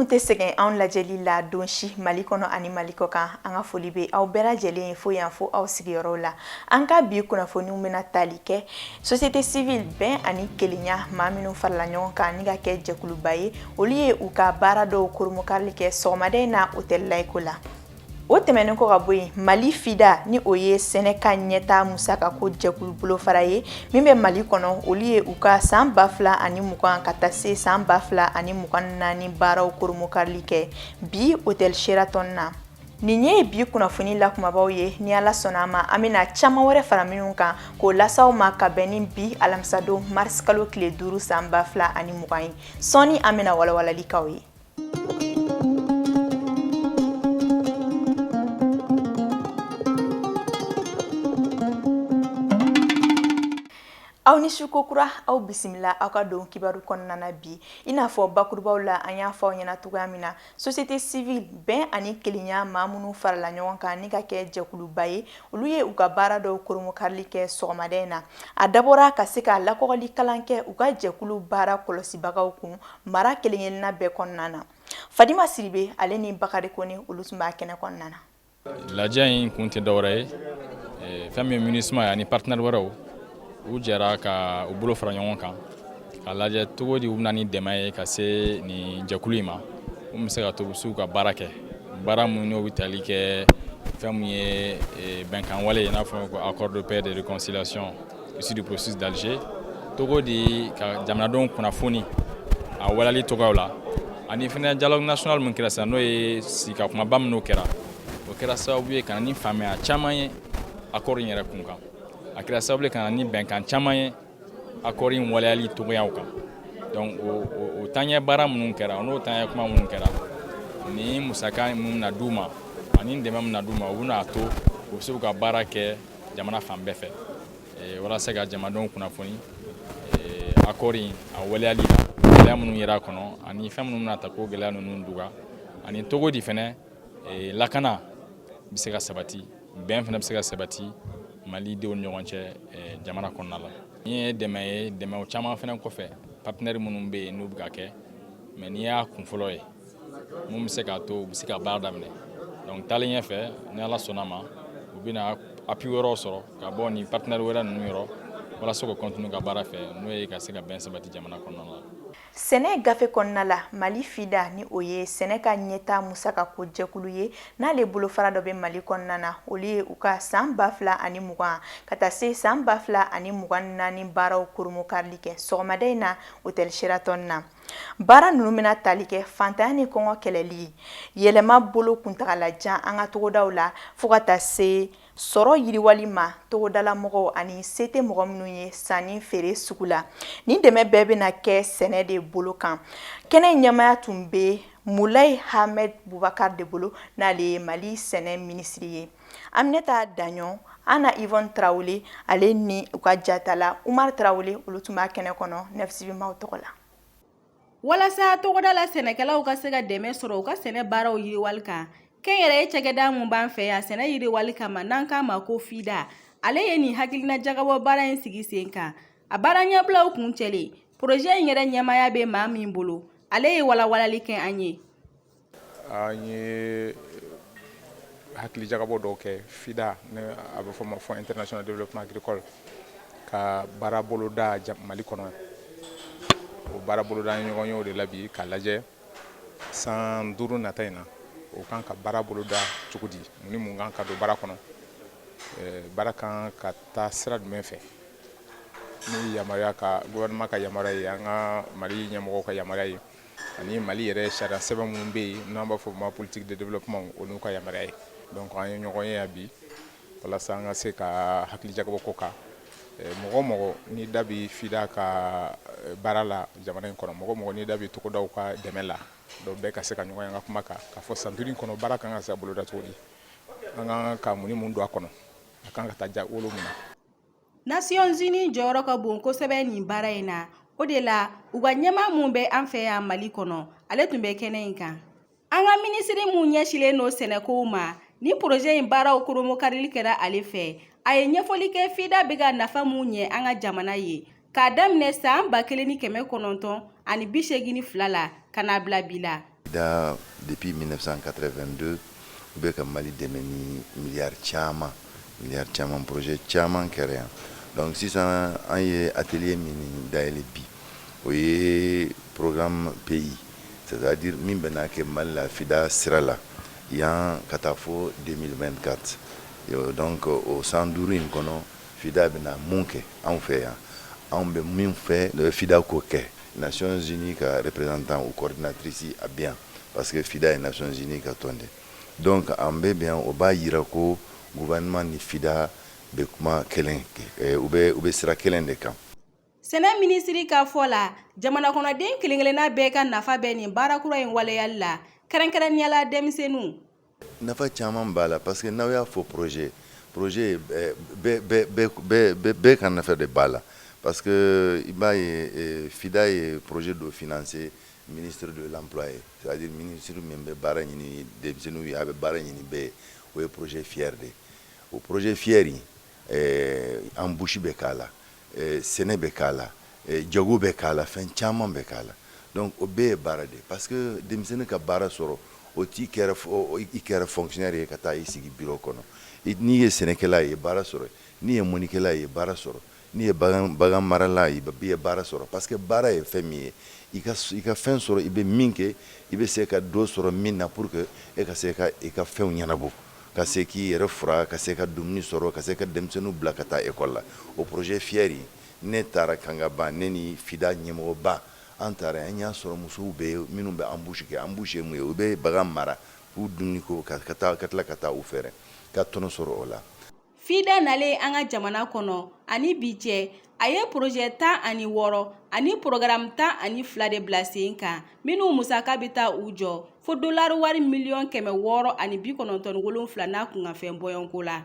tɛ sɛgɛn anw lajɛli la don si mali kɔnɔ ani mali kɔ kan an ka foli bɛ aw bɛɛ lajɛlen ye fo yan fo aw sigiyɔrɔw la an ka bi kunnafoniw bɛna tali kɛ société civile bɛn ani kelenya maa minnu farala ɲɔgɔn kan ni ka kɛ jɛkuluba ye olu ye u ka baara dɔw koromokarili kɛ sɔgɔmada in na hôtel laïco la o tɛmɛnen kɔ ka bɔ yen mali fida ni o ye sɛnɛ ka ɲɛtaa musaka ko jɛkulu bolofara ye min bɛ mali kɔnɔ olu ye u ka san ba fila ani mugan ka taa se san ba fila ani mugan naani baaraw koromokarili kɛ bi hôtel sheraton na nin ye bi kunnafoni la kumabaw ye ni ala sɔnna a ma an bɛna caman wɛrɛ fara minnu kan k'o las'aw ma ka bɛn ni bi alamisadon mars kalo tile duuru san ba fila ani mugan ye sɔɔni an bɛna walawalali k'aw ye aw ni su kokura aw bisimila aw ka don kibaru kɔnɔna na bi i n'a fɔ bakurubaw la an y'a fɔ aw ɲɛna cogoya min na Société civile bɛn ani kelenya maa minnu farala ɲɔgɔn kan ni ka kɛ jɛkuluba ye olu ye u ka baara dɔw koromokarili kɛ sɔgɔmada in na a dabɔra ka se ka lakɔgɔli kalan kɛ u ka jɛkulu baara kɔlɔsibagaw kun mara kelenkelenna bɛɛ kɔnɔna na Fadima Siribe ale ni Bakari Kone olu tun b'a kɛnɛ kɔnɔna na Lajɛ in kun tɛ dɔwɛrɛ ye eh, fɛn min MINUSMA ye ani partenaire wɛrɛw u jɛra ka u bolo fara ɲɔgɔn kan ka lajɛ cogo di u bɛ na ni dɛmɛ ye ka se nin jɛkulu in ma u bɛ se ka to u bɛ s'u ka baara kɛ baara minnu n'u bɛ tali kɛ fɛn min ye eh, bɛnkan wale ye i n'a fɔ ko accord de paix de réconciliation Issu du processus d'Alger cogo di ka jamanadenw kunnafoni a waleyali cogoyaw la ani fɛnɛ dialogue national min kɛra sisan n'o ye sigi ka kumaba minnu kɛra o kɛra sababu ye ka na ni faamuya caman ye accord in yɛrɛ kun kan a kɛra sababu ye ka na ni bɛnkan caman ye accord in waleyali cogoyaw kan donc o o taɲɛ baara minnu kɛra n'o taɲɛ kuma minnu kɛra ni musaka minnu na d'u ma ani dɛmɛ min na d'u ma u bɛna a to u bɛ se k'u ka baara kɛ jamana fan bɛɛ fɛ eh, walasa ka jamanadenw kunnafoni eh, accord in a waleyali la gɛlɛya minnu yera a kɔnɔ ani fɛn minnu bɛna ta k'o gɛlɛya ninnu duga ani cogo di fɛnɛ eh, lakana bɛ se ka sabati bɛn fɛnɛ bɛ se ka sabati malidenw ni ɲɔgɔn cɛ jamana kɔnɔna la nin ye dɛmɛ ye dɛmɛw caman fɛnɛ kɔfɛ partenaire minnu bɛ yen n'u bɛ ka kɛ mais nin y'a kun fɔlɔ ye mun bɛ se k'a to u bɛ se ka baara daminɛ donc taalen ɲɛfɛ ni ala sɔnna ma u bɛna appui wɛrɛw sɔrɔ ka bɔ nin partenaire wɛrɛ ninnu yɔrɔ walasa ka continuer ka baara fɛ n'o ye ka se ka bɛn sabati jamana kɔnɔna la sɛnɛ gafe kɔnɔna la mali fida ni o ye sɛnɛ ka ɲɛta musaka ko jɛkulu ye n'ale bolofara dɔ bɛ mali kɔnɔna na olu ye u ka saan ba fila ani mugan ka taa se saan ba fila ani mugan naani baaraw koromokarili kɛ sɔgɔmada in na otɛli sheratɔn na baara ninnu bɛna tali kɛ fantanya ni kɔngɔ kɛlɛli yɛlɛma bolo kuntagalajan an ka togodaw la fo ka taa se sɔrɔ yiriwali ma togodala mɔgɔw ani se tɛ mɔgɔ minnu ye sanni feere sugu la nin dɛmɛ bɛɛ bɛna kɛ sɛnɛ de bolo kan kɛnɛ ɲɛmaya tun bɛ mulayi hamɛd bubakari de bolo n'ale ye mali sɛnɛ minisiri ye an bɛ taa daɲɔgɔn ana ivɔn tarawele ale ni u ka jatala umar tarawele olu tun b'a kɛnɛ kɔnɔ nesibimaw tɔgɔ la walasa togodala sɛnɛkɛlaw ka se ka dɛmɛ sɔrɔ u ka sɛnɛ baaraw yiriwali kan kɛnyɛrɛye cakɛda min b'an fɛ yan sɛnɛ yiriwali kama n'an k'a ma ko fida ale ye nin hakilinajagabɔ baara in sigi sen kan a baara ɲɛbilaw kuncɛlen poroze in yɛrɛ ɲɛmaya bɛ maa min bolo ale ye walawalanli kɛ an ye An ye hakilijagabɔ dɔw kɛ FIDA ni a bɛ fɔ ma Fonds International de Développement Agricole ka baara boloda Mali kɔnɔ o baara boloda an ɲɔgɔn ye o de la bi ka lajɛ san duuru nata in na o kan ka baara boloda cogo di mun ni mun kan ka don baara kɔnɔ baara kan ka taa sira jumɛn fɛ ni yamaruya ka gouvernement ka yamaruya ye an ka Mali ɲɛmɔgɔw ka yamaruya ye ani mali yɛrɛ sariya sɛbɛn minnu bɛ yen n'an b'a fɔ ma politique de développement o n'u ka yamaruya ye donc an ye ɲɔgɔn ye yan bi walasa an ka se ka hakilijagabɔ k'o kan mɔgɔ o mɔgɔ n'i da bɛ fida ka baara la jamana in kɔnɔ mɔgɔ o mɔgɔ n'i da bɛ togodaw ka dɛmɛ la dɔw bɛɛ ka se ka ɲɔgɔn ye an ka kuma kan k'a fɔ san duuru in kɔnɔ baara kan ka se boloda cogo di an kan ka mun ni mun don a kɔnɔ a kan ka taa ja wolo mun na Nasiyɔnzini jɔyɔrɔ ka bon kosɛbɛ nin baara in na o de la u ka ɲɛmaa min bɛ an fɛ yan mali kɔnɔ ale tun bɛ kɛnɛ in kan an ka minisiri min ɲɛsilen don sɛnɛkow ma ni poroze in baaraw koromokarili kɛra ale fɛ a ye ɲɛfɔli kɛ fida bɛ ka nafa min ɲɛ an ka jamana ye k'a daminɛ saan ba kelen ni kɛmɛ kɔnɔntɔn ani bi segin ni fila la ka n'a bila bi la FIDA depuis 1982 u bɛ ka Mali dɛmɛ ni miliyari caman miliyari caman projet caman kɛra yan donc sisan an ye atelier min dayɛlɛ bi o ye programme pays c'est à dire min bɛna kɛ Mali la FIDA sira la yan ka taa fo 2024 yo donc o san duuru in kɔnɔ FIDA bɛna mun kɛ anw fɛ yan anw bɛ min fɛ FIDA k'o kɛ Nations Unies ka représentant ou coordinatrice a bɛ yan parce que FIDA ye Nations Unies ka tɔn de donc an bɛ yan o b'a yira ko gouvernement ni FIDA bɛ kuma kelen eh, u bɛ u bɛ sira kelen de kan. Sɛnɛ minisiri ka fɔ la jamanakɔnɔden kelen-kelenna bɛɛ ka nafa bɛ nin baara kura in waleyali la kɛrɛnkɛrɛnnenya la denmisɛnninw Nafa caman b'a la parce que n'aw y'a fɔ projet projet bɛɛ ka nafa de b'a la parce que i b'a ye FIDA ye projet dɔ financer ministre de l'emploi ye c'est à dire ministre min bɛ baara ɲini denmisɛnninw ye a bɛ baara ɲini bɛɛ ye o ye projet FIER de o projet FIER in Ɛɛ embouche bɛ k'a la sɛnɛ bɛ k'a la jago bɛ k'a la fɛn caman bɛ k'a la donc o bɛɛ ye baara de parce que denmisɛnnin ka baara sɔrɔ o t'i kɛra i kɛra fonctionnaire ye ka taa i sigi bureau kɔnɔ n'i ye sɛnɛkɛla ye baara sɔrɔ n'i ye mɔnikɛla ye baara sɔrɔ n'i ye bagan marala ye i ye baara sɔrɔ parce que baara ye fɛn min ye i ka fɛn sɔrɔ i bɛ min kɛ i bɛ se ka dɔ sɔrɔ min na pour que e ka se ka i ka fɛnw ɲɛnabɔ ka se k'i yɛrɛ fura ka se ka dumuni sɔrɔ ka se ka denmisɛnninw bila ka taa ekɔli la o projet FIER in ne taara Kangaba ne ni FIDA ɲɛmɔgɔba an taara an y'a sɔrɔ musow bɛ minnu bɛ embouche kɛ embouche ye mun ye u bɛ bagan mara k'u dumuniko ka tila ka taa u feere ka tɔnɔ sɔrɔ o la. FIDA nalen an ka jamana kɔnɔ ani bi cɛ a ye porozɛ tan ani wɔɔrɔ ani porogaramu tan ani fila de bila sen kan minnu musaka bɛ taa u jɔ fo dolari wari miliyɔn kɛmɛ wɔɔrɔ ani bi kɔnɔntɔn ni wolonfila n'a kunkanfɛn bɔɲɔgɔnko la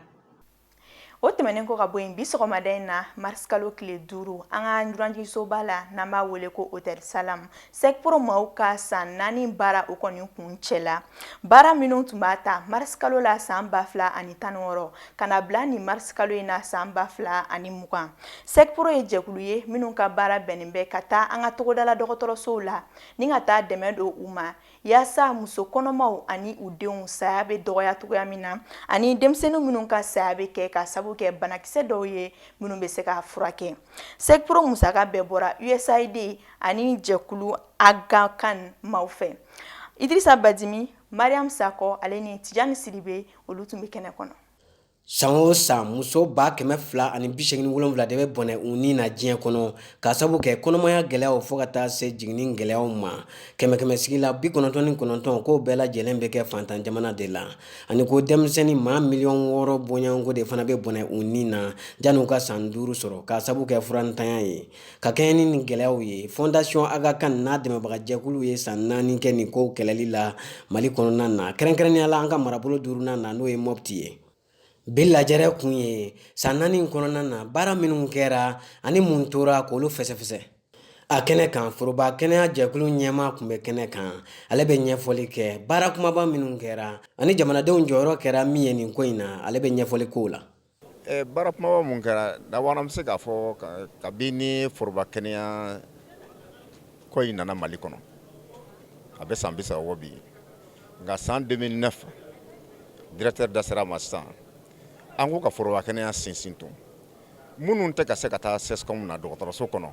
o tɛmɛnen kɔ ka bɔ yen bi sɔgɔmada in na marisikalo tile duuru an ka dunanjiginsoba la n'an b'a wele ko hôtel Salam SECPRO maaw ka san naani baara o kɔni kuncɛla baara minnu tun b'a ta marisikalo la san ba fila ani tan wɔɔrɔ ka na bila nin marisikalo in na san ba fila ani mugan SECPRO ye jɛkulu ye minnu ka baara bɛnnen bɛ ka taa an ka togodala dɔgɔtɔrɔsow la ni ka taa dɛmɛ don u ma yaasa muso kɔnɔmaw ani u denw saya bɛ dɔgɔya cogoya min na ani denmisɛnnin minnu ka saya bɛ kɛ ka sabu kɛ banakisɛ dɔw ye minnu bɛ se ka furakɛ SECPRO musaka bɛɛ bɔra USAID ani jɛkulu Aga Khan maaw fɛ Idrissa Badimi Mariam Sako ale ni Tijani Sidibe olu tun bɛ kɛnɛ kɔnɔ san o san muso ba kɛmɛ fila ani bisegin ni wolonfila de bɛ bɔnɛ u ni na diɲɛ kɔnɔ ka sabu kɛ kɔnɔmaya gɛlɛyaw fo ka taa se jiginni gɛlɛyaw ma kɛmɛ kɛmɛ sigi la bi kɔnɔntɔn ni kɔnɔntɔn k'o bɛɛ lajɛlen bɛ kɛ fantan jamana de la ani ko denmisɛnnin maa miliyɔn wɔɔrɔ bɔɲɔgɔnko de fana bɛ bɔnɛ u ni na janni u ka san duuru sɔrɔ ka sabu kɛ furantanya ye Ka kɛɲɛ ni nin gɛlɛyaw ye Fondation Aga Khan n'a dɛmɛbagajɛkulu ye san naani kɛ nin ko kɛlɛli la mali kɔnɔna na kɛrɛnkɛrɛnnenya la an ka marabolo duurunan na n'o ye Mopti ye bi lajɛrɛ kun ye san naani kɔnɔna na baara minnu kɛra ani mun tora k'olu fɛsɛfɛsɛ a kɛnɛ kan foroba kɛnɛya jɛkulu ɲɛmaa tun bɛ kɛnɛ kan ale bɛ ɲɛfɔli kɛ baara kumaba minnu kɛra ani jamanadenw jɔyɔrɔ kɛra min ye nin ko in na ale bɛ ɲɛfɔli k'o la Baara kumaba mun kɛra d'abord an bɛ se k'a fɔ kabini foroba kɛnɛya ko in nana mali kɔnɔ a bɛ san bisaba bɔ bi nka san deux mille neuf directeur da sera a ma sisan an ko ka foroba kɛnɛya sinsin minnu tɛ ka se ka taa CSCOM na dɔgɔtɔrɔso kɔnɔ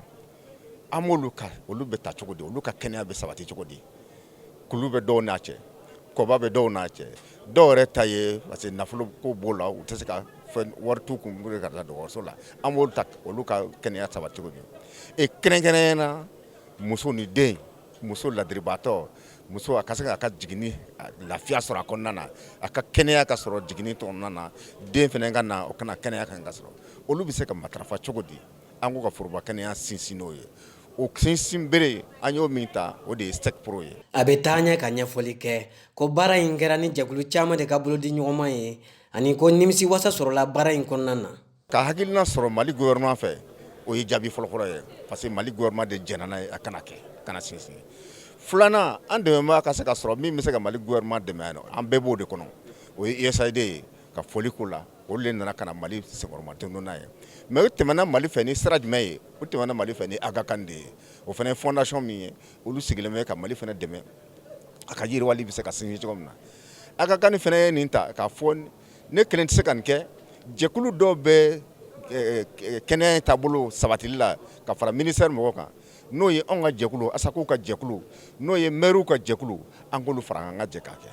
an b'olu olu bɛ ta cogo di olu ka kɛnɛya bɛ sabati cogo di kulu bɛ dɔw n'a cɛ kɔba bɛ dɔw n'a cɛ dɔw yɛrɛ ta ye parce que nafolo ko b'o la u tɛ se ka wari t'u kun ka taa dɔgɔtɔrɔso la an b'olu ta olu ka kɛnɛya sabati cogo di e kɛrɛnkɛrɛnnenya na muso ni den muso ladiribaatɔ muso a ka se k'a ka jiginni lafiya sɔrɔ a kɔnɔna na a ka kɛnɛya ka sɔrɔ jiginni kɔnɔna na den fana ka na o ka na kɛnɛya kan ka sɔrɔ olu bɛ se ka matarafa cogo di an ko ka foroba kɛnɛya sinsin n'o ye o sinsin bere an y'o min ta o de ye SECPro ye a bɛ taa ɲɛ ka ɲɛfɔli kɛ ko baara in kɛra ni jɛkulu caman de ka bolo di ɲɔgɔnma ye ani ko nimisi wasa sɔrɔla baara in kɔnɔna na ka hakilina sɔrɔ mali gouvernement fɛ o ye jaabi fɔlɔfɔlɔ ye parce que mali gouvernement de jɛnna n'a ye a ka na kɛ ka na sinsin filanan an dɛmɛbaa ka se ka sɔrɔ min bɛ se ka mali gouvernement dɛmɛ yan an bɛɛ b'o de kɔnɔ o ye USAID ye ka foli k'o la olu de nana ka na Mali senkɔrɔ madondon n'a ye mais o tɛmɛna Mali fɛ ni sira jumɛn ye o tɛmɛna Mali fɛ ni Aga Khan de ye o fana ye fondation min ye olu sigilen bɛ ka Mali fana dɛmɛ a ka yiriwali bɛ se ka sinsin cogo min na Aga Khan fana ye nin ta k'a fɔ ne kelen tɛ se ka nin kɛ jɛkulu dɔw bɛ kɛnɛya in taabolo sabatili la ka fara ministère mɔgɔw kan n'o ye anw ka jɛkulu ASACO ka jɛkulu n'o ye maires ka jɛkulu an k'olu fara kan an ka jɛ k'a kɛ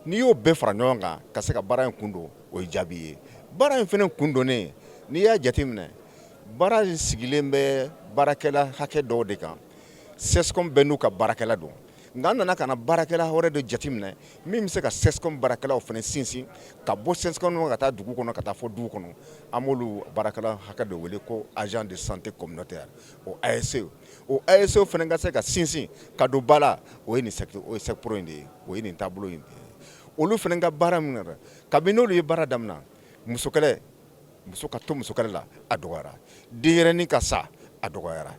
N'i y'o bɛɛ fara ɲɔgɔn kan ka se ka baara in kun don o ye jaabi ye baara in fana kun donnen n'i y'a jateminɛ baara in sigilen bɛ baarakɛla hakɛ dɔw de kan CSCOM bɛɛ n'u ka baarakɛla don nka an nana ka na baarakɛla wɛrɛ de jateminɛ min bɛ se ka CSCOM baarakɛlaw fana sinsin ka bɔ CSCOM ka taa dugu kɔnɔ ka taa fɔ du kɔnɔ an b'olu baarakɛla hakɛ dɔ wele ko agent de santé communautaire o ASC o ASC fana ka se ka sinsin ka don ba la o ye SECPro in de ye o ye nin taabolo in de ye olu fana ka baara min kabini n'olu ye baara daminɛ musokɛlɛ muso ka to musokɛlɛ la a dɔgɔyara denyɛrɛnin ka sa a dɔgɔyara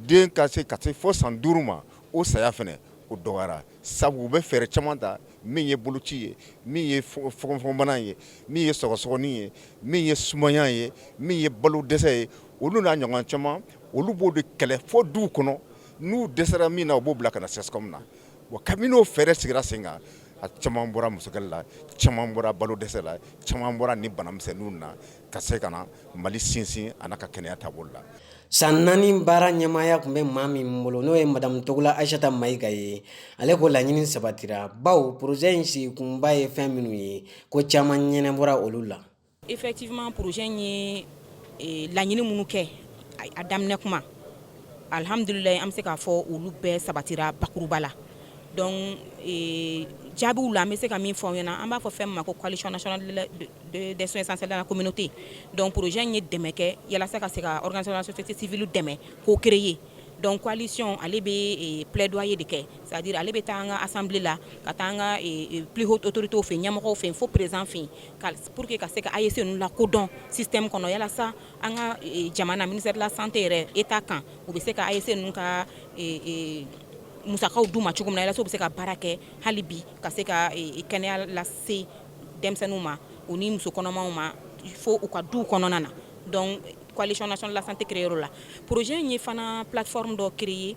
den ka se ka se fɔ san duuru ma o saya fana o dɔgɔyara sabu u bɛ fɛɛrɛ caman ta min ye boloci ye min ye fɔgɔnfɔgɔnbana ye min ye sɔgɔsɔgɔnin ye min ye sumaya ye min ye balo dɛsɛ ye olu n'a ɲɔgɔn caman olu b'o de kɛlɛ fɔ duw kɔnɔ n'u dɛsɛra min na u b'o bila ka na CSCOM na bon kabini o fɛɛrɛ sigira sen kan a caman bɔra musokɛlɛ la caman bɔra balo dɛsɛ la caman bɔra ni bana misɛnninw na ka se ka na Mali sinsin a n'a ka kɛnɛya taabolo la San naani baara ɲɛmaaya tun bɛ maa min bolo n'o ye madamu Togola Ayisata Mayiga ye ale ko laɲini sabatira bawo porozɛ in sigikunba ye fɛn minnu ye ko caman ɲɛnabɔra olu la Effectivement projet in ye eh, laɲini minnu kɛ a daminɛ kuma alhamdulilayi an bɛ se k'a fɔ olu bɛɛ sabatira bakuruba la donc eh, jaabiw la an bɛ se ka min fɔ aw ɲɛna an b'a fɔ fɛn min ma ko coalition nationale de la- de- de- des soins essentiels dans la communauté donc projet in ye dɛmɛ kɛ yalasa ka se ka organisation de la société civile dɛmɛ k'o créer donc coalition ale bɛ eh, plaidoyer de kɛ c'est à dire ale bɛ taa an ka assemblée la ka taa an ka eh, eh, plus haute autorité fɛ yen ɲɛmɔgɔw fɛ yen fo président fɛ yen pour que ka se ka ASC ninnu lakodɔn système kɔnɔ yalasa an ka e, jamana ministère de la santé yɛrɛ état kan u bɛ se ka ASC ninnu ka e, e, musakaw d'u ma cogo min na yalasa u bɛ se ka baara kɛ hali bi ka se ka kɛnɛya lase denmisɛnninw ma u ni muso kɔnɔmaw ma fo u ka duw kɔnɔna na donc coalition nationale de la santé créer o la projet in ye fana plateforme dɔ créer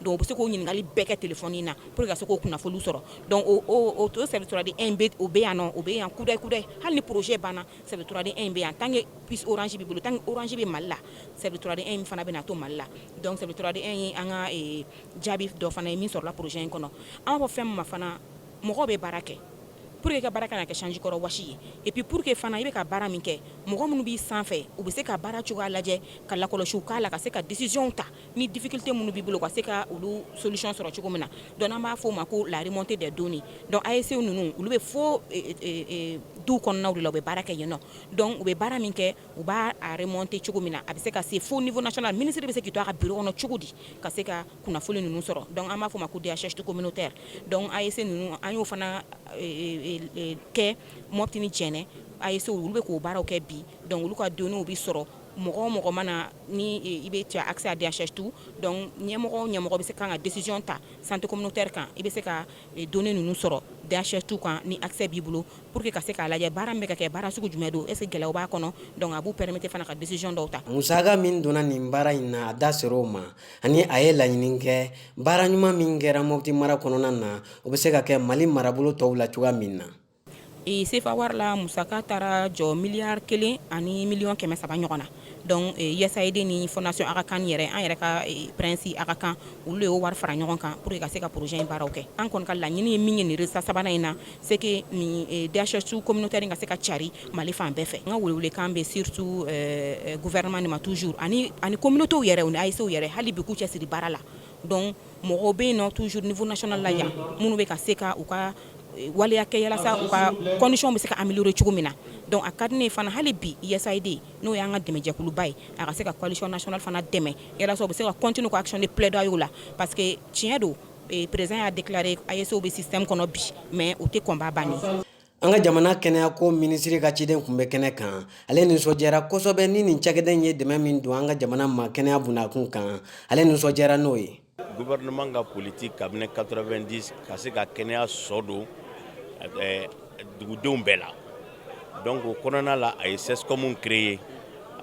Donc u bɛ se k'o ɲininkali bɛɛ kɛ téléphone in na pour que ka se k'o kunnafoni sɔrɔ donc o service trois deux un o bɛ yan o bɛ yan kudayi kudayi hali ni projet banna service trois deux un bɛ yan tant que puce Orange b'i bolo tant que Orange bɛ Mali la service trois deux un in fana bɛna to Mali la service trois deux un ye an ka jaabi dɔ fana ye min sɔrɔla projet in kɔnɔ an b'a fɔ fɛn min ma fana mɔgɔw bɛ baara kɛ pour que ka baara kana kɛ sanjikɔrɔ wɔsi ye et puis pour que fana i bɛ ka baara min kɛ mɔgɔ minnu b'i sanfɛ u bɛ se ka baara cogoya lajɛ ka lakɔlɔsi k'a la ka se ka décisionw ta ni difficulté minnu b'i bolo ka se ka olu solution sɔrɔ cogo min na donc an b'a fɔ o ma ko la remontée des données donc ASC ninnu olu bɛ fo eh, eh, eh, duw kɔnɔnaw de la u bɛ baara kɛ yen nɔ donc u bɛ baara min kɛ u b'a remonter cogo min na a bɛ se ka se fo niveau national ministre bɛ se k'i to a ka bureau kɔnɔ cogo di ka se ka kunnafoni ninnu sɔrɔ donc an b'a fɔ o ma ko DHIS communautaire donc ASC ninnu an y'o fana kɛ Mɔpti ni Jɛnɛ ASC olu bɛ k'o baaraw kɛ bi donc olu ka données bɛ sɔrɔ mɔgɔ o mɔgɔ mana na ni i bɛ tu as accès à DHIS2 donc ɲɛmɔgɔ ɲɛmɔgɔ bɛ se ka ka décision ta santé communautaire kan i bɛ se ka données ninnu sɔrɔ DHIS2 kan ni accès b'i bolo pour que ka se k'a lajɛ baara min bɛ ka kɛ baara sugu jumɛn don est-ce que gɛlɛya b'a kɔnɔ donc a b'u permettre fana ka décision dɔw ta musaka min donna nin baara in na a da ser'o ma ani a ye laɲini kɛ baara ɲuman min kɛra Mɔpti mara kɔnɔna na o bɛ se ka kɛ Mali marabolo tɔw la cogoya min na E sefa wari la musaka taara jɔ miliyari kelen ani miliyɔn kɛmɛ saba ɲɔgɔn na donc e, usaid ni fondation aga khan yɛrɛ an yɛrɛ ka e, prinsi aga khan olu de y'o wari fara ɲɔgɔn kan pour que ka se ka projet in baaraw kɛ an kɔni ka laɲini ye min ye nin résultat sabanan in na c'est que nin e, dhis2 communautaire ka se ka cari mali fan bɛɛ fɛ n ka welewelekan bɛ surtout gouvernement de ma toujours ani ani communautéw yɛrɛ u ni ascw yɛrɛ hali bi k'u cɛsiri baara la donc mɔgɔ bɛ yen tu s niunasɔn la minnu bɛ ka se ka u ka waliya kɛ u ka kɔnsiyw bɛ se ka amadu cogo min na dɔnku a ka di ne fana hali bi yesayiden n'o y'an ka dɛmɛjɛkuluba ye a ka se ka kɔlisiɔnsɔn fana dɛmɛ o bɛ se ka cot ka cun ni plɛda la pa que tiɲɛ don perez y'a dela a yeso bɛ sisan kɔnɔ bi mɛ u tɛ kɔnba ban An ka jamana kɛnɛyako minisiri ka ciden kun bɛ kɛnɛ kan ale nisɔndiyara kosɛbɛ ni nin cakɛda in ye dɛmɛ min don an ka jamana ma kɛnɛya bunakun kan ale nisɔndiyara n'o ye gouvernement ka politique kabini quatre-vingt-dix ka se ka kɛnɛya sɔ don dugudenw bɛɛ la donc o kɔnɔna la a ye cscomw créer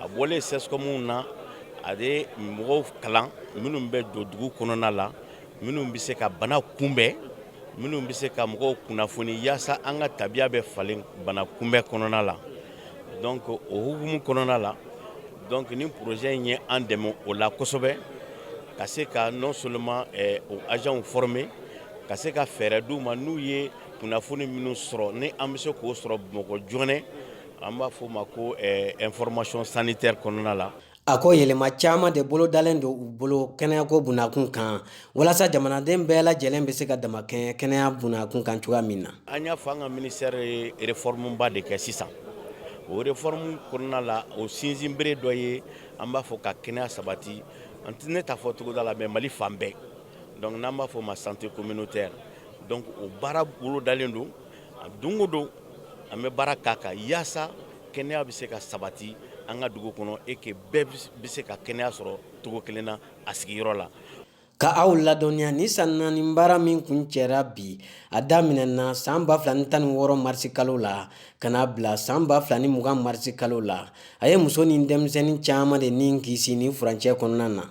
a bɔlen cscomw na a ye mɔgɔw kalan minnu bɛ don dugu kɔnɔna la minnu bɛ se ka bana kunbɛn minnu bɛ se ka mɔgɔw kunnafoni yaasa an ka tabiya bɛ falen bana kunbɛn kɔnɔna la donc o hukumu kɔnɔna la donc nin projet in ye an dɛmɛ o la kosɛbɛ ka se ka non seulement eh, o agents former ka se ka fɛɛrɛ d'u ma n'u ye kunnafoni minnu sɔrɔ ni an bɛ se k'o sɔrɔ mɔgɔ joonɛ an b'a fɔ o ma ko eh, information sanitaire kɔnɔna la A ko yɛlɛma caman de bolodalen don u bolo kɛnɛyako bunakun kan walasa jamanaden bɛɛ lajɛlen bɛ se ka damakɛɲɛ kɛnɛya bunakun kan cogoya min na an y'a fɔ an ka ministère ye réformeba de kɛ sisan o réforme kɔnɔna la o sinsinbere dɔ ye an b'a fɔ ka kɛnɛya sabati an tɛ ne t'a fɔ togoda la mais mali fan bɛɛ donc n'an b'a fɔ o ma santé communautaire donc o baara bolodalen don A don o don an bɛ baara k'a kan yaasa kɛnɛya bɛ se ka sabati an ka dugu kɔnɔ et que bɛɛ bɛ se ka kɛnɛya sɔrɔ cogo kelen na a sigiyɔrɔ la. Ka aw ladɔnniya nin san naani baara min kuncɛra bi a daminɛna san ba fila ni tan ni wɔɔrɔ marisi kalo la ka n'a bila san ba fila ni mugan marisi kalo la a ye muso ni denmisɛnnin caman de ni kisi nin furancɛ kɔnɔna na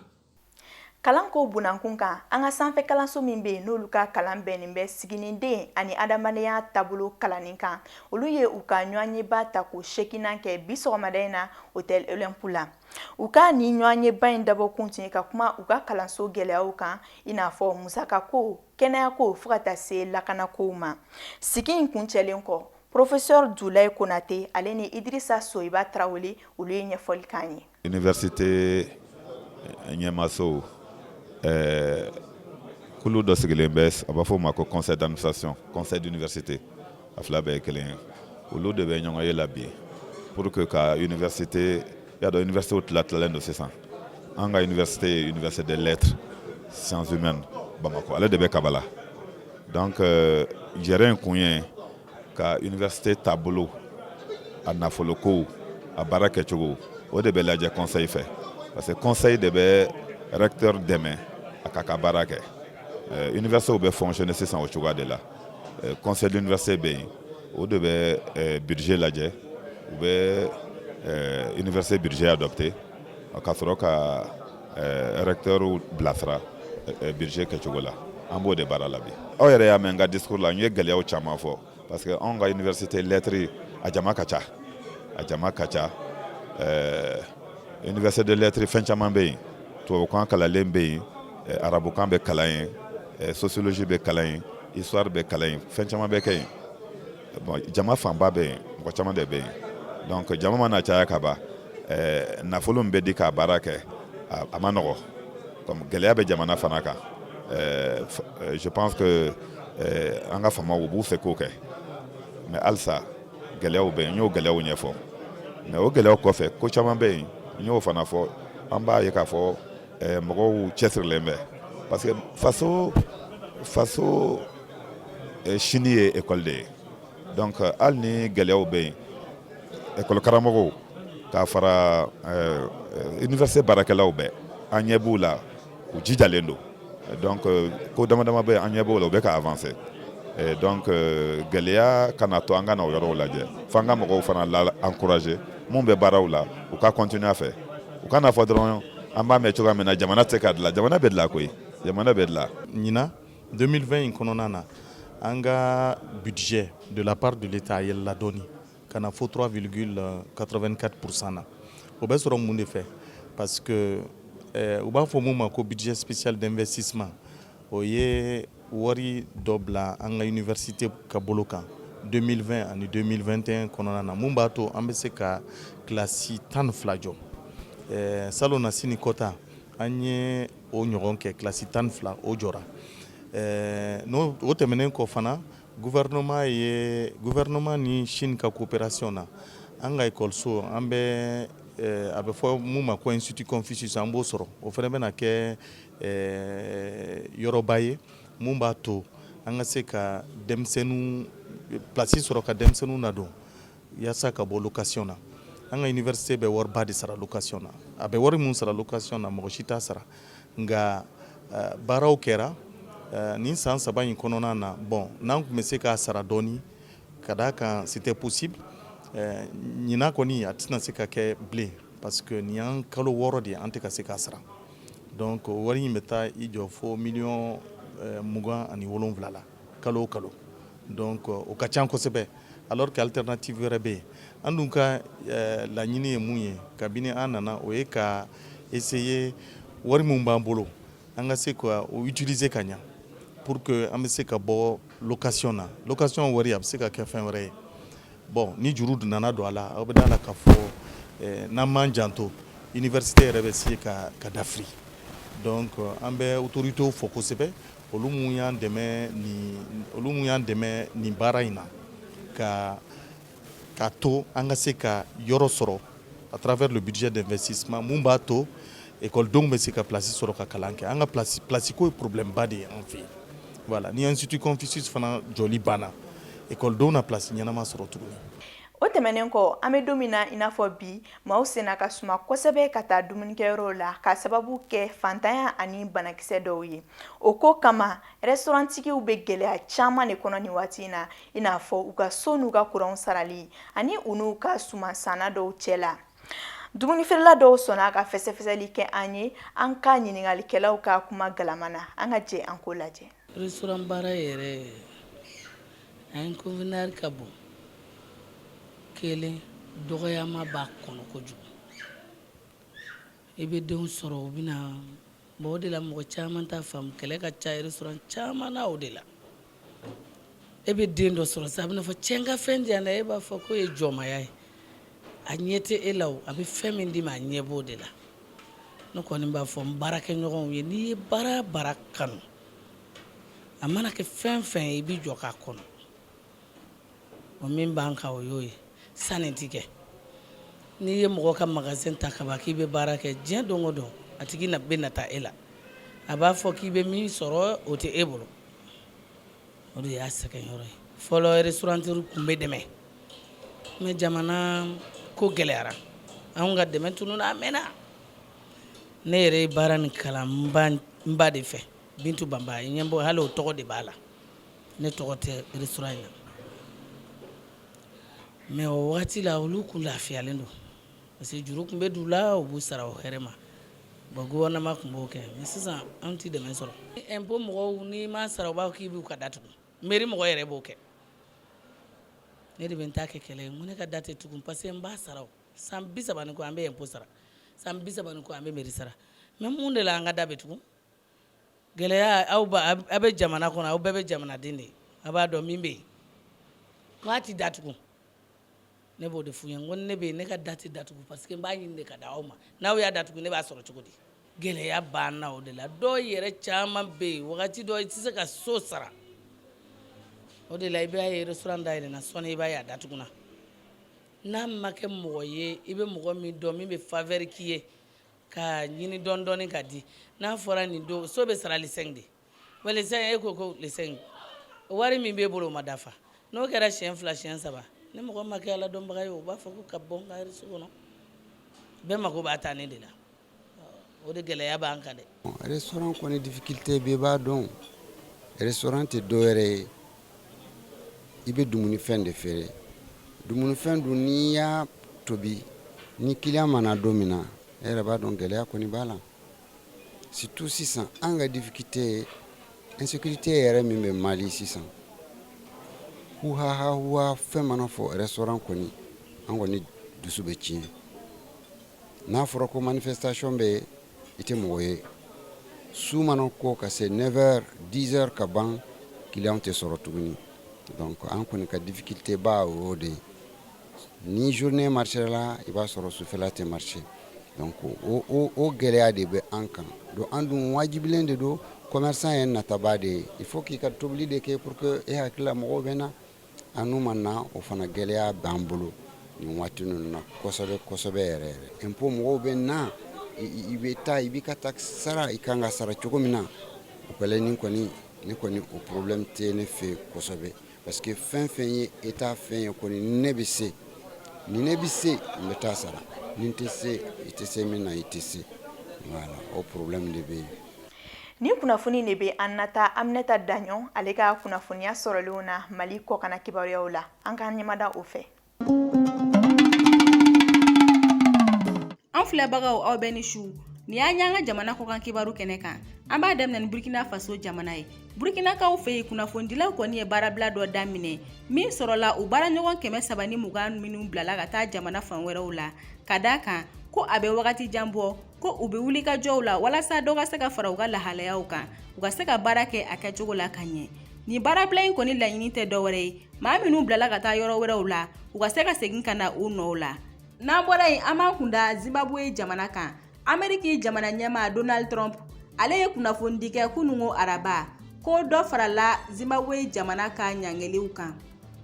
kalanko bunankun kan an ka sanfɛ kalanso min bɛ yen n'olu ka kalan bɛnnen bɛ siginiden ani adamadenya taabolo kalanni kan olu ye u ka ɲɔgɔnyeba tako seeginan kɛ bi sɔgɔmada in na hôtel olympe la u ka nin ɲɔgɔnyeba in dabɔkun tun ye ka kuma u ka kalanso gɛlɛyaw kan i n'a fɔ musakako kɛnɛyako fo ka taa se lakanakow ma sigi in kuncɛlen kɔ professeur dulaye konate ale ni idirisa soyiba tarawele olu ye ɲɛfɔli k'an ye Université ɲɛmaaso ɛɛ kulu dɔ sigilen bɛ a b'a fɔ o ma ko conseil d'administration conseil d'université a fila bɛɛ ye kelen ye olu de bɛ ɲɔgɔnye la bi pour que ka université y'a dɔn université tila tilalen don sisan an ka université ye université des lettres sciences humaines Bamakɔ ale de bɛ Kabala donc jɛrɛ in kun ye ka université taabolo a nafolokow a baara kɛcogo o de bɛ lajɛ conseil fɛ parce que conseil de bɛ recteur dɛmɛ a k'a ka baara kɛ eh, universitéw bɛ fonctionner sisan o cogoya de la eh, conseil d'université bɛ yen o de bɛ eh, budget lajɛ u bɛ université budget adopté ka sɔrɔ ka recteur bilasira budget kɛcogo la an b'o de baara la bi aw yɛrɛ y'a mɛn n ka discours la n ye gɛlɛyaw caman fɔ parce que anw ka université lettres a jama ka ca a jama ka ca université de lettres fɛn caman bɛ yen tubabukan kalanlen bɛ yen arabukan bɛ kalan yen sociologie bɛ kalan yen histoire bɛ kalan yen fɛn caman bɛ kɛ yen bon jama fanba bɛ yen mɔgɔ caman de bɛ yen donc jama mana caya ka ban eh, nafolo min bɛ di k'a baara kɛ a, a ma nɔgɔ comme gɛlɛya bɛ jamana fana kan eh, eh, je pense que eh, an ka faamaw u b'u seko kɛ mais halisa gɛlɛyaw bɛ yen n y'o gɛlɛyaw ɲɛfɔ mais o gɛlɛyaw kɔfɛ ko caman bɛ yen n y'o fana fɔ an b'a ye k'a fɔ eh, mɔgɔw cɛsirilen bɛ parce que faso faso sini ye ekɔli de ye donc hali ni gɛlɛyaw bɛ yen ekɔli karamɔgɔw k'a fara université baarakɛlaw bɛɛ an ɲɛ b'u la u jijalen don donc ko damadama bɛ yen an ɲɛ b'o la u bɛ ka avancer donc gɛlɛya kana to an kana o yɔrɔw lajɛ fo an ka mɔgɔw fana la encourager min bɛ baaraw la u ka continuer a fɛ u kana fɔ dɔrɔn an b'a mɛn cogoya min na jamana tɛ se ka dilan jamana bɛ dilan koyi jamana bɛ dilan ɲinan 2020 in kɔnɔna na an ka budget de la part de l'Etat a yɛlɛla dɔɔni ka na fo 3,84 pourcent na o bɛ sɔrɔ mun de fɛ parce que eh, u b'a fɔ mun ma ko budget spécial d'investissement o ye wari dɔ bila an ka université ka bolo kan 2020 ani 2021 kɔnɔna na mun b'a to an bɛ se ka kilasi tan ni fila jɔ eh, salonnasini kɔ ta an ye o ɲɔgɔn kɛ kilasi tan ni fila o jɔra n'o tɛmɛnen kɔ fana gouvernement ye gouvernement ni Chine ka coopération na an ka ekɔliso an bɛ a bɛ fɔ min ma ko institut Confucius an b'o sɔrɔ o fana bɛna kɛ yɔrɔba ye min b'a to an ka se ka denmisɛnninw plasi sɔrɔ ka denmisɛnninw nadon Yaasa ka bɔ location na an ka université bɛ wari ba de sara location na a bɛ wari min sara location na mɔgɔ si t'a sara nka eh, baaraw kɛra eh, nin san saba in kɔnɔna na bon n'an tun bɛ se k'a sara dɔɔni ka d'a kan c'était possible eh, ɲinan kɔni a tɛna se ka kɛ bilen parce que nin y'an kalo wɔɔrɔ de ye an tɛ ka se k'a sara donc wari in bɛ taa i jɔ fo miliyɔn mugan ani wolonwula la kalo o kalo donc o ka ca kosɛbɛ alors que alternative wɛrɛ bɛ yen an dun ka laɲini ye mun ye kabini an nana o ye ka essayer wari min b'an bolo an ka se ka o utiliser ka ɲɛ pour que an bɛ se ka bɔ location na location wari a bɛ se ka kɛ fɛn wɛrɛ ye bon ni juru nana don a la aw bɛ da a la k'a fɔ n'an m'an janto université yɛrɛ bɛ se ka dafiri donc an bɛ autoritéw fo kosɛbɛ olu minnu y'an dɛmɛ nin olu minnu y'an dɛmɛ nin baara in na ka ka to an ka se ka yɔrɔ sɔrɔ à travers le budget d'investissement mun b'a to ekɔlidenw bɛ se ka place sɔrɔ ka kalan kɛ an ka place ko ye problème ba de ye an fɛ yen voilà ni institut Confucius fana jɔli banna ekɔlidenw na place ɲɛnama sɔrɔ tuguni O tɛmɛnen kɔ an bɛ don min na i n'a fɔ bi maaw senna ka suma kosɛbɛ ka taa dumunikɛyɔrɔw la k'a sababu kɛ faantanya ani banakisɛ dɔw ye o ko kama restauranttigiw bɛ gɛlɛya caman de kɔnɔ nin waati in na i n'a fɔ u ka so n'u ka kuranw sarali ani u n'u ka suman sanna dɔw cɛ la dumunifeerela dɔw sɔnna ka fɛsɛfɛsɛli kɛ an ye an ka ɲininkalikɛlaw ka kuma galama na an ka jɛ an k'o lajɛ Restaurant baara yɛrɛ a inconvénient ka bon kelen dɔgɔyama b'a kɔnɔ kojugu i bɛ denw sɔrɔ u bɛna bɔ o de la mɔgɔ caman t'a faamu kɛlɛ ka ca restaurant caman na o de la e bɛ den dɔ sɔrɔ sisan a bɛna fɔ cɛ n ka fɛn di yan dɛ e b'a fɔ k'o ye jɔnmaya ye a ɲɛ tɛ e la o a bɛ fɛn min d'i ma a ɲɛ b'o de la ne kɔni b'a fɔ n baarakɛɲɔgɔnw ye n'i ye baara baara kanu a mana kɛ fɛn fɛn ye i b'i jɔ k'a kɔnɔ o min b'an kan o y'o ye sanni ti kɛ n'i ye mɔgɔ ka magasin ta kaban k'i bɛ baara kɛ diɲɛ don o don a tigi na bɛ nata e la a b'a fɔ k'i bɛ min sɔrɔ o tɛ e bolo o de y'a sɛgɛn yɔrɔ ye fɔlɔ restaurateurw tun bɛ dɛmɛ mais jamana ko gɛlɛyara an ka dɛmɛ tununna a mɛnna ne yɛrɛ ye baara nin kalan n ba de fɛ Bintu Banba ye ɲɛ bɔ hali o tɔgɔ de b'a la ne tɔgɔ tɛ restaurant in na mais o waati la olu kun lafiyalen don parce que juru tun bɛ d'u la u b'u sara o hɛrɛ ma Bon gouvernement tun b'o kɛ mais sisan an tɛ dɛmɛ sɔrɔ, impôt mɔgɔw n'i m'a sara u b'a fɔ k'i b'u ka da tugu mairie mɔgɔ yɛrɛ b'o kɛ, ne de bɛ n ta kɛ kɛlɛ ye n ko ne ka da tɛ tugu parce que n b'a sara san 30 ni kɔ an bɛ impôt sara san 30 ni kɔ an bɛ mairie sara mais mun de la an ka da bɛ tugu gɛlɛya aw aw bɛ jamana kɔnɔ aw bɛɛ bɛ jamanaden de ye a b'a dɔn min bɛ yen k'a tɛ datugu ne b'o de f'u ye n ko ne bɛ yen ne ka da tɛ datugu parce que n b'a ɲini de ka d'aw ma n'aw y'a datugu ne b'a sɔrɔ cogo di gɛlɛya b'an na o de la dɔw yɛrɛ caman bɛ yen wagati dɔ i tɛ se ka so sara o de la i b'a ye restaurant dayɛlɛnna sɔɔni i b'a ye a datuguna n'a ma kɛ mɔgɔ ye i bɛ mɔgɔ min dɔn min bɛ faveur k'i ye Ka ɲini dɔɔnin dɔɔnin ka di n'a fɔra nin don so bɛ sara le cinq de wa le cinq e ko ko le cinq wari min b'i bolo o ma dafa n'o kɛra siyɛn fila siyɛn saba ni mɔgɔ ma kɛ ala dɔnbaga ye o b'a fɔ ka bɔ n ka so kɔnɔ bɛɛ mako b'a tanin de la o de gɛlɛya b'an kan dɛ restaurant kɔni difficulté bɛɛ b'a dɔn restaurant tɛ dɔwɛrɛ ye i bɛ dumunifɛn de feere dumunifɛn dun n'i y'a tobi ni client ma na don min na e yɛrɛ b'a dɔn gɛlɛya kɔni b'a la surtout sisan an ka difficulté ye insécurité yɛrɛ min bɛ mali sisan huhahahuwa fɛn mana fɔ restaurant kɔni an kɔni dusu bɛ tiɲɛ n'a fɔra ko man manifestation bɛ yen i tɛ mɔgɔ ye su mana ko ka se 9 heures 10 heures ka ban client tɛ sɔrɔ tuguni donc an kɔni ka difficulté ba o y'o de ye ni journée marcher la i b'a sɔrɔ sufɛla tɛ marcher donc o o o gɛlɛya de bɛ an kan donc an dun wajibilen de don commerçant ye nataba de ye il faut k'i ka tobili de kɛ pour que e hakilila mɔgɔw bɛ na An n'u ma na o fana gɛlɛya b'an bolo nin waati ninnu na kosɛbɛ kosɛbɛ yɛrɛ yɛrɛ impôt mɔgɔw bɛ na i bɛ taa i b'i ka taxe sara i kan k'a sara cogo min na o kɛlen ne kɔni o problème tɛ ne fɛ kosɛbɛ parce que fɛn fɛn ye État fɛn ye kɔni ni ne bɛ se ni ne bɛ se n bɛ taa sara ni n tɛ se i tɛ se min na i tɛ se voilà o problème de bɛ yen Ni kunnafoni de bɛ an nata Aminata Daɲɔn ale ka kunnafoniya sɔrɔlenw na mali kɔkanna kibaruyaw la an k'an ɲɛmada o fɛ an filɛbagaw aw bɛ ni su nin y'an y'an ka jamana kɔkan kibaru kɛnɛ kan an b'a daminɛ ni burukina faso jamana ye burukinakaw fɛ yen kunnafonidilaw kɔni ye baarabila dɔ daminɛ min sɔrɔla u baaraɲɔgɔn kɛmɛ saba ni mugan minnu bilala ka taa jamana fan wɛrɛw la ka d'a kan ko a bɛ wagati jan bɔ ko u bɛ wuli ka jɔw la walasa dɔ ka se ka fara u ka lahalayaw kan u ka se ka baara kɛ a kɛcogo la ka ɲɛ nin baarabila in kɔni laɲini tɛ dɔwɛrɛ ye maa minnu bilala ka taa yɔrɔ wɛrɛw la u ka se ka segin ka na u nɔw la n'an bɔra yen an b'an kunda zimbabwe jamana kan ameriki jamana ɲɛmaa donald trump ale ye kunnafonidi kɛ kunungo araba ko dɔ farala zimbabwe jamana ka ɲangiliw kan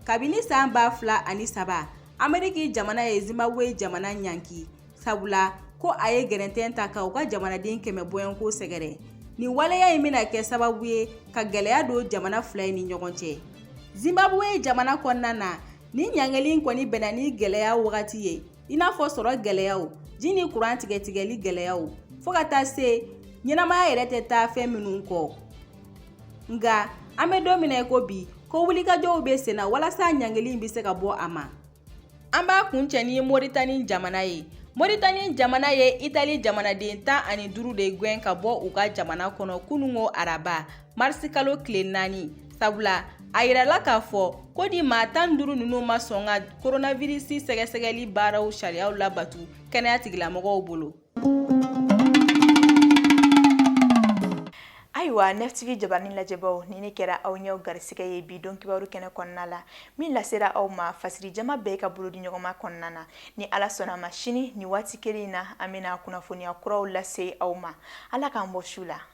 kabini san ba fila ani saba ameriki jamana ye zimbabwe jamana ɲanki sabula ko a ye gɛrɛntɛn ta ka u ka jamanaden kɛmɛ bɔɲɔgɔnko sɛgɛrɛ nin waleya in bɛna kɛ sababu ye ka gɛlɛya don jamana fila in ni ɲɔgɔn cɛ zimbabwe jamana kɔnɔna na nin ɲangili kɔni bɛnna ni gɛlɛya wagati ye i n'a fɔ sɔrɔ gɛlɛyaw ji ni kuran tigɛtigɛli gɛlɛyaw fɔɔ ka taa se ɲɛnamaya yɛrɛ tɛ taa fɛn minnu kɔ nka an bɛ don min na i ko bi ko wulikajɔw bɛ sen na walasa ɲangili in bɛ se ka bɔ a ma An b'a kuncɛ ni moritani jamana ye moritani jamana ye itali jamanaden tan ani duuru de gɛn ka bɔ u ka jamana kɔnɔ kununko araba marisikalo tile naani sabula a yirala k'a fɔ ko nin maa tan duuru ninnu ma sɔn ka koronavirisi sɛgɛsɛgɛli baaraw sariyaw labatu kɛnɛya tigilamɔgɔw bolo ayiwa nftv jabaranin lajɛbaw nin de kɛra aw ɲɛw garisigɛ ye bi don kibaru kɛnɛ kɔnɔna la min lasera aw ma fasiri jama bɛɛ ka bolodiɲɔgɔnma kɔnɔna na ni ala sɔnn'a ma sini nin waati kelen in na an bɛna kunnafoniya kuraw lase aw ma ala k'an bɔ su la